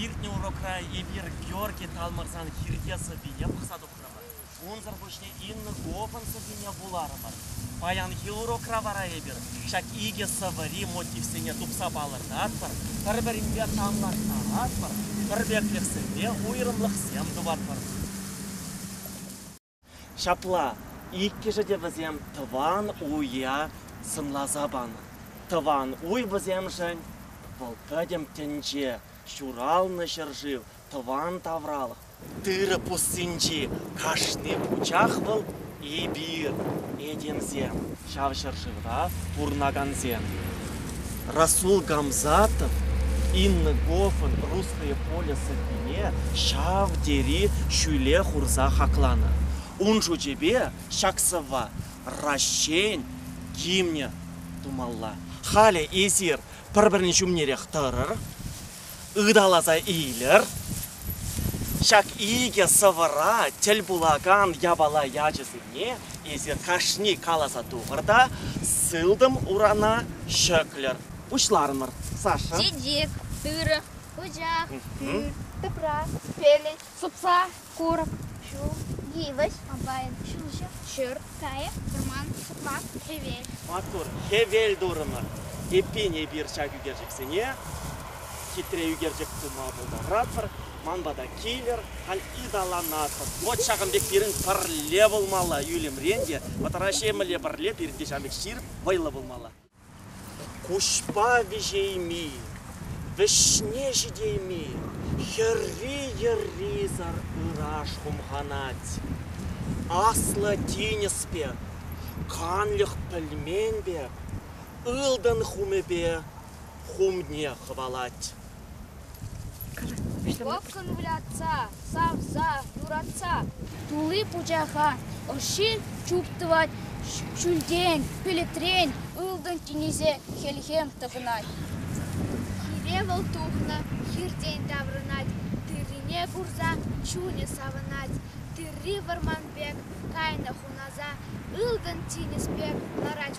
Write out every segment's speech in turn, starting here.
Иртнӗ урокра Эльвира Георги Талмӑрсан хирте сӑввине пӑхса тухрӑмӑр. Унсӑр пуҫне Инна Говӑн сӑввине вуларӑмӑр. Паянхи урокра вара эпир ҫак икӗ сӑвӑри мотивсене тупса палӑртатпӑр, пӗр-пӗринпе танлаштаратпӑр, пӗрпеклӗхсемпе уйрӑмлӑхсем тупатпӑр. Ҫапла, иккӗшӗ те вӗсем тӑван уя сӑнласа панӑ. Тӑван уй вӗсемшӗн вӑл пӗтӗм тӗнче, ҫуралнӑ ҫӗршыв, тӑван тавралӑх. Тырӑ пуссинчи кашни пучах вӑл эпир, этемсем. Ҫав ҫӗршывра пурӑнакансем, Расул Гамзатов Инна Гофӑн Русское поле сӑввине ҫав тери ҫӳле хурса хакланӑ. Ун шучӗпе ҫак сӑвва Раҫҫейӗн гимнӗ тумалла. Халӗ эсир пӗр-пӗрин ҫумнерех тӑрӑр. ыталаса илер. Ҫак икӗ сӑвӑра тӗл пулакан япала ячӗсене эсир кашни каласа тухӑр та сылтӑм урана ҫӗклӗр. Пуҫларӑмӑр. Саша. Чечек, тырӑ, пучах, тыр, тӑпра, пелӗт, сӑпса, Курӑк, ҫул, йывӑҫ, комбайн, ҫулҫӑ, ҫурт, кайӑк, вӑрман, ҫӑкла, хӗвел. Маттур, хӗвел турӑмӑр. Эппин, эпир ҫак ӳкерчӗксене хитре ӳкерчӗк тума пултаратпӑр. Ман пата килӗр, халь ыталанатпӑр. Вӑт ҫакӑн пек пирӗн пӗрле пулмалла, ӳлӗмрен те, вӑтӑра ҫемӗле пӗрле пирӗн те ҫамрӑк ҫирӗп вӑйлӑ пулмалла. Куҫпа виҫейми, вӗҫне ҫитейми хӗрри-йӗррисӗр ыраш хумханать. Аслӑ тинӗс пек, канлӗх пӗлмен пек, ылтӑн хумӗпе хумне хӑвалать. Лӑпкӑн вылятса, савса, юратса тулли пучаха ӑшши чуптӑвать, ҫӳлтен, пӗлӗтрен ылтӑн тинӗсе хӗлхем тӑхӑнать. Хире вӑл тухнӑ, хиртен таврӑнать, тыррине курса чунӗ савӑнать. Тырри вӑрман пек кайнӑ хунаса, ылтӑн тинӗс пек ларать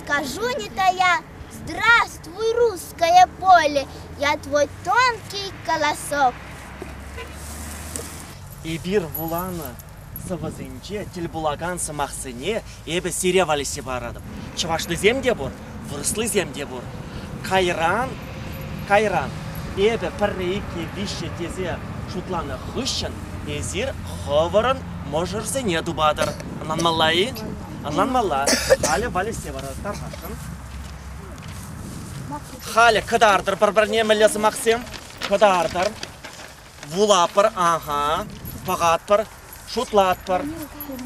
Скажу не-тая «Здравствуй, русское поле!» Я твой тонкий голосок. Эпир вуланӑ сӑвӑсенче тӗл пулакан сӑмахсене эпӗ сире валеҫсе паратӑп. Чӑвашлисем те пур, вырӑслисем те пур. Кайран, кайран эпӗ пӗрре, икке, виҫҫе тесе шутланӑ хыҫҫӑн эсир хӑвӑрӑн мӑшӑрсене тупатӑр. Ӑнланмалла-и? Ӑнланмалла, халӗ валеҫсе вара тархасшӑн. Халӗ кӑтартӑр пӗр-пӗрне мӗнле сӑмахсем? Кӑтартӑр. Вулатпӑр, ага, пӑхатпӑр, шутлатпӑр.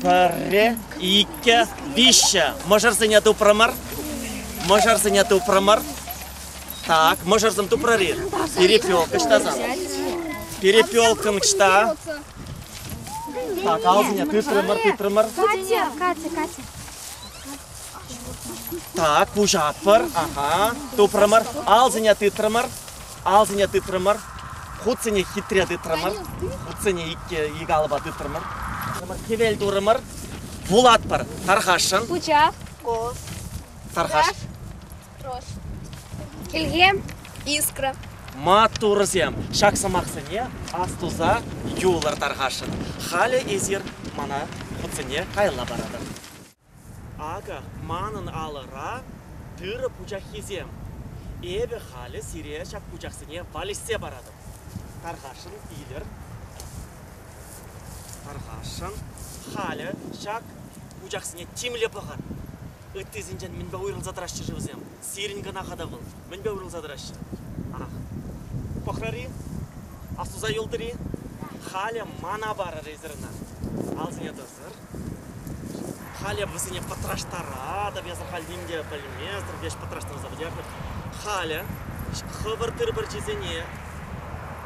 Пӗрре, иккӗ, виҫҫӗ. Мӑшӑрсене тупрӑмӑр. Мӑшӑрсене тупрӑмӑр. Так, мӑшӑрсем тупрӑр-и? Перепелка ҫтасан. Перепелкӑм ҫта, Каласине тытрӑмӑр, тытрӑмӑр. Катя, Катя, Катя. Так, куҫаппӑр. Ага. Тупрӑмӑр. Алсине тытрӑмӑр. Алсине тытрӑмӑр. Хутсене хитре тытрӑмӑр. Хутсене икке ик алӑпа тытрӑмӑр. Хӗвел турӑмӑр. Вулатпӑр. Тархасшӑн. Пучах. Кос. Тархаш. Килхи искра. Маттурсем, ҫак сӑмахсене астуса юлӑр тархасшӑн. Халӗ эсир мана хутсене кайла паратӑр. Акӑ, манӑн алӑра тырӑ пучаххисем. Эпӗ халӗ сире ҫак пучахсене валеҫсе паратӑп. Тархасшӑн, илер. Тархасшӑн, халӗ ҫак пучахсене тимлӗ пӑхӑр. Ыттисенчен мӗнпе уйрӑлса тӑраҫҫӗ-ши вӗсем? Сирӗн кӑна хата вӑл. Мӗнпе уйрӑлса тӑраҫҫӗ? Ах, пӑхрӑр-и? Аслуса юлтӑр-и? Халӗ мана парӑр эсир ӑна. Алсине тӑсӑр. Халӗ вӗсене пӑтраштаратӑп, эсӗ халь ним те пӗлместӗн, леш пӑтраштарса пӗтернӗ. Халӗ хӑвӑр тыр пӗрчисене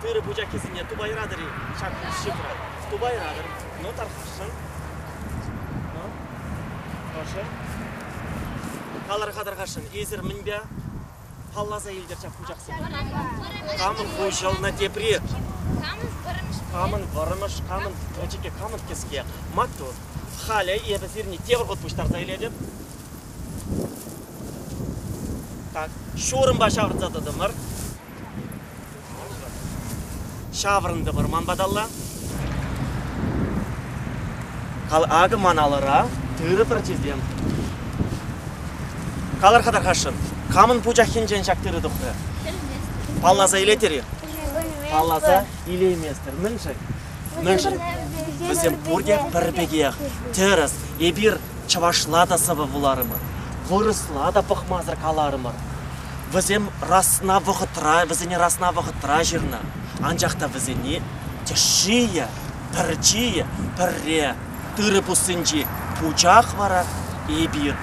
Тырӑ пучаххисене тупайратӑр-и? Ҫак шифра. Тупайратӑр. Ну, тархасшӑн. Ну, ӑшӑ. Калӑр-ха тархасшӑн, эсир мӗнпе палласа илтӗр ҫак пучахсене? Камӑн хуҫӑлнӑ тепри? Камӑн вӑрӑмӑш, камӑн пӗчӗкӗ, камӑн кӗске? Маттур. Халӗ эпӗ сирне тепӗр хут пуҫтарса илетӗп. Так, ҫурӑмпа ҫавӑрса тӑтӑмӑр. Ҫаврӑнтӑпӑр ман паталла. Кал акӑ ман алӑра тырӑ пӗрчисем. Калӑр-ха, тархасшӑн, камӑн пучаххинчен ҫак тырӑ тухрӗ? Палласа илетӗр-и? Палласа илейместӗр. Мӗншӗн? Мӗншӗн? Вӗсем пурте пӗр пекех. Тӗрӗс, эпир чӑвашла та сӑвӑ вуларӑмӑр, вырӑсла та пӑхмасӑр каларӑмӑр. Вӗсем расна вӑхӑтра, вӗсене расна вӑхӑтра ҫырнӑ, анчах та вӗсене тӗшшийӗ, пӗрчийӗ пӗрре, тырӑ пуссинчи пучах вара эпир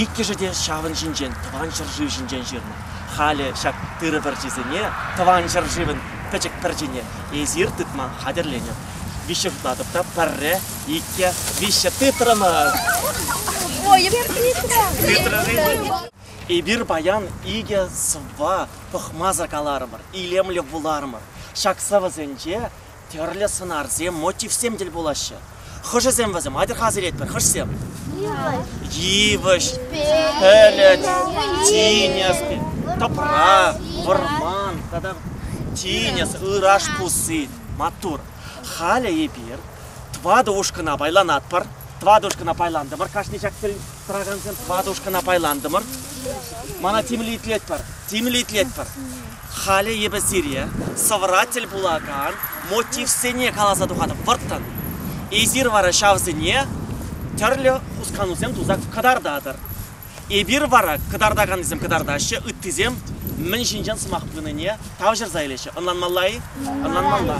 иккӗшӗ те ҫавӑн ҫинчен тӑван ҫӗршыв ҫинчен ҫырнӑ. Халӗ ҫак тырӑ пӗрчисене, тӑван ҫӗршывӑн пӗчӗк пӗрчине эсир тытма хатӗрленӗр. Виҫҫе тытатӑп та пӗрре, икке, виҫҫе тытрӑмӑр. Ой, Петра! Петра, Эпир паян икӗ сӑвва пӑхмасӑр каларӑмӑр, илемлӗ вуларӑмӑр. Ҫак сӑвӑсенче тӗрлӗ сӑнарсем, мотивсем тӗл пулаҫҫӗ. Хӑшӗсем вӗсем атьӑр-ха асилетпӗр, хӑшсем? Йывӑҫ, пӗлӗт, тинӗс, тӑпра, вӑрман тата тинӗс, ыраш пусси, маттур. Халӗ эпир тӑватӑ ушкӑна пайланатпӑр. Тӑватӑ ушкӑна пайлантӑмӑр кашни ҫак Тӑракансем тӑватушкӑна пайлантӑмӑр. Мана тимлӗ итлетпӗр, тимлӗ итлетпӗр. Халӗ эпӗ сире сӑвӑра тӗл пулакан мотивсене каласа тухатӑп вӑрттӑн. Эсир вара ҫавсене тӗрлӗ хусканусем туса кӑтартатӑр. Эпир вара кӑтартаканнисем кӑтартаҫҫӗ, ыттисем мӗн ҫинчен сӑмах пынине тавҫӑрса илеҫҫӗ. Ӑнланмалла-и? Ӑнланмалла.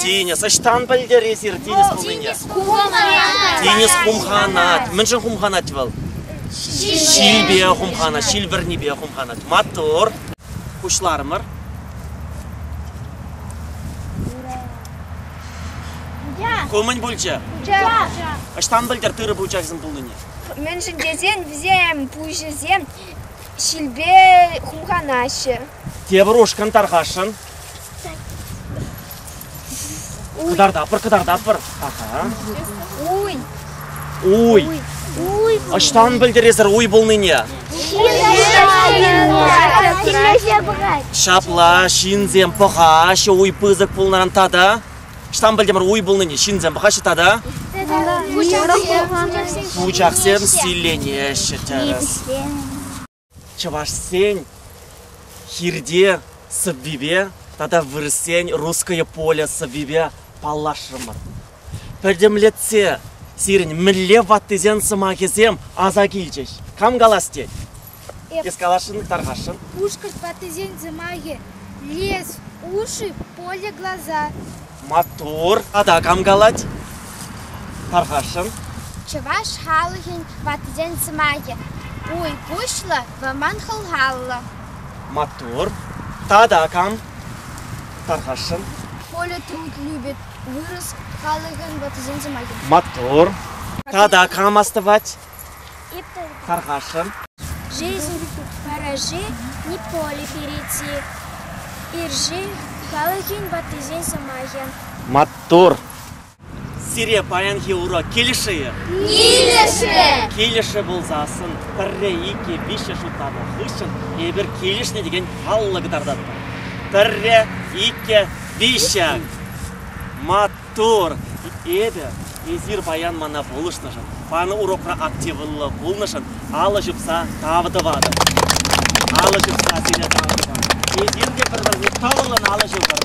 Тинӗс, ӑҫтан пӗлтӗр эсир тинӗс пулнине? Тинӗс хумханать. Мӗншӗн хумханать вӑл? Ҫилпе хумханать, ҫил вӗрнипе хумханать. Маттур. Пуҫларӑмӑр. Ку мӗн пулчӗ? Ӑҫтан пӗлтӗр тырӑ пучахӗсем пулнине? Мӗншӗн тесен вӗсем пуҫӗсем ҫилпе хумханаҫҫӗ. Тепӗр ушкӑн тархасшӑн. Кӑтартатпӑр, кӑтартатпӑр. Ага. Уй. Уй. Уй. Ӑҫтан пӗлтересӗр уй пулнине? Ҫапла, ҫынсем пӑхаҫҫӗ уй пысӑк пулнӑран тата. Ӑҫтан пӗлтӗмӗр уй пулнине? Ҫынсем пӑхаҫҫӗ тата? Пучахсем силленеҫҫӗ тӗрӗс. чӑвашсен хирте сӑввипе тата вырӑссен русское поле сӑввипе паллашрӑмӑр. Пӗтӗмлетсе сирӗн мӗнле ваттисен сӑмахӗсем аса килчӗҫ. Кам калас тет? Эп. Эс каласшӑн, тархасшӑн. Пушкӑрт ваттисен сӑмахӗ. Лес, уши, поле, глаза. Маттур! Тата кам калать? Тархасшӑн. Чӑваш халӑхӗн ваттисен сӑмахӗ Уй куҫлӑ, вӑман хӑлхаллӑ. Маттур. Тата кам? Тархасшӑн. Коля Труд любит вырӑс халӑхӗн ваттисен сӑмахӗ. Маттур. Тата кам астӑвать? Тархасшӑн. Параши Неполи перейти. Ирши халӑхӗн ваттисен сӑмахӗ. Маттур! Сире паянхи урок килӗшӗ-и? Килӗшрӗ! Килӗшрӗ пулсассӑн пӗрре, иккӗ, виҫҫӗ шутланӑ хыҫҫӑн эпир килӗшнӗ текен паллӑ кӑтартатпӑр. Пӗрре, иккӗ, виҫҫӗ. Мат Тӑр, эпӗ, эсир паян мана пулӑшнӑшӑн, панӑ урокра активлӑ пулнӑшӑн алӑ ҫупса тав тӑватӑп. Алӑ ҫупса сире тав тупатӑп. Эсир те пӗр-пӗрне тӑвӑллӑн алӑ ҫупӑр.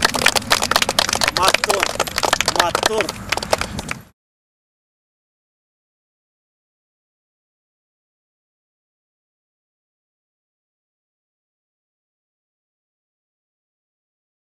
Маттур, маттур.